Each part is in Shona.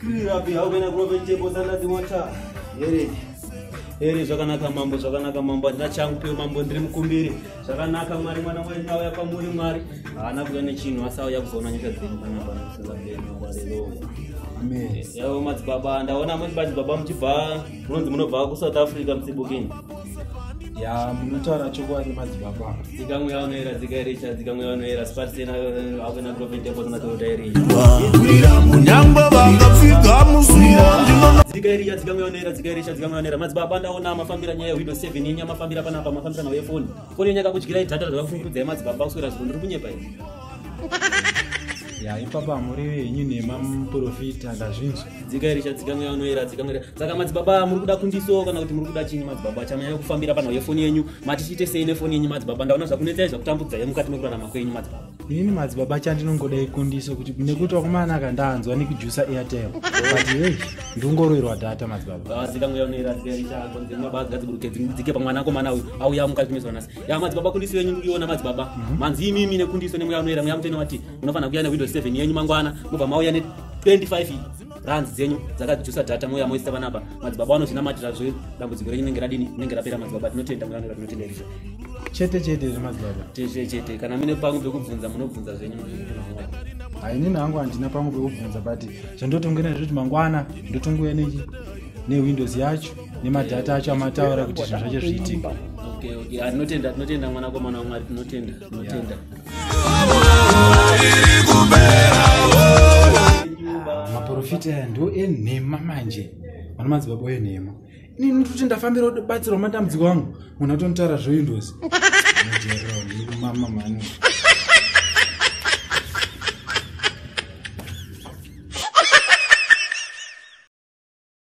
Kirirapi haugana kurova chebo sandati wacha. Here. Here zvakanaka mambo zvakanaka mambo andina changu peo mambo ndiri mukumbiri. Zvakanaka mwari mwana wenyu auya kwamuri mwari. Haana kuya nechinhu asi auya kuzoona nyika dzenyu kana pana kusenza mberi mambo haleluya. Amen. Yavo madzibaba ndaona madzibaba muchibva munonzi munobva kuSouth Africa msibukini. ya munotaura chokwadi madzibaba dzikamwe vanoera dzikairecha dzikamwe vanoera spatsena akuna profitable matota iri munangwa vakafika musuo dzikairicha dzikamwe vanoera dzikairecha dzikamwe vanoera madzibaba ndaona mafambira nyaya yehwido seven inya mafambira panapa mafambira nawo yefoni foni yanyaka kudyirai dhata dzava kufungurudzai madzibaba kuswera zviro ndiri kunyepa iri ya ipapa muri venyu nemamuprofita ndazvinzwa dzikairicha dzikamwe anoera dzikamwe saka madzibaba muri kuda kundiso kana kuti muri kuda chinyi madzibaba chamanyanya kufambira panhau yefoni yenyu matichiite sei nefoni yenyu madzibaba ndaona zvakunetsai zvakutambudza ye mukati mekurarama kwenyu madzibaba ini madzibaba chandinongoda ikundiso kuti nekuti wakumana ka ndanzwa nekujusa airtel but hei ndingoroirwa data madzibaba ah, dzikamwe anoera dzikairicha konzemabaa dzigadziburuke dzike pamwana akomana uyu auya mukati mezwanasi ya madzibaba kundiso yenyu ndikuiona madzibaba mhm. manzi imimi nekundiso nemweya unoera mweya mutene wati munofanira kuuya newindows 7 yenyu mangwana mobva mauya ne25 runs dzenyu dzakajusa data mouya moisa vanapa madzibaba vanozvinamatira zve dambudziko renyu nenge radini nenge rapera madzibaba tinotenda mweya unoera tinotenda izvo chete chete zvemadzibaba chete chete kana mine pangu pekubvunza munobvunza zvenyu hainini hangu handina pangu pekubvunza but zvandotongena zvekuti mangwana ndotongouya newindows yacho nemadhata acho amataura kuti zvinhu zvacho zviitike okay, okay. Ah, tinotenda tinotenda mwanakomana wamwari tinotenda tinotenda ah, maprofita aya ndo enhema manje vana madzibaba enhema ini nditoti ndafambira batsirwa matambudziko angu munhu atonitaura zvoindozi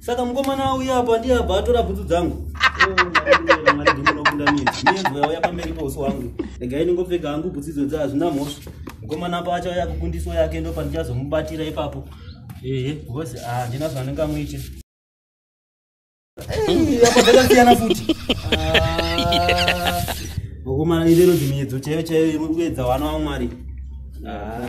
saka mukomana auya apo andiye abva atora bhutsu dzangu ndimunokundamidziyauya pamberi pouso wangu regai ndingopfeka hangu bhutsu idzo dza hazvina mhosva mukomana apo achauya kukundiswa yake ndopa ndichazomubatira ipapo ehe bhosi handina ah, zvandingamuite apa dzakasiyana futi ah, mukomana irero dzimiedzo chaiyo chaiyo imwe kuedza wana wamwari ah.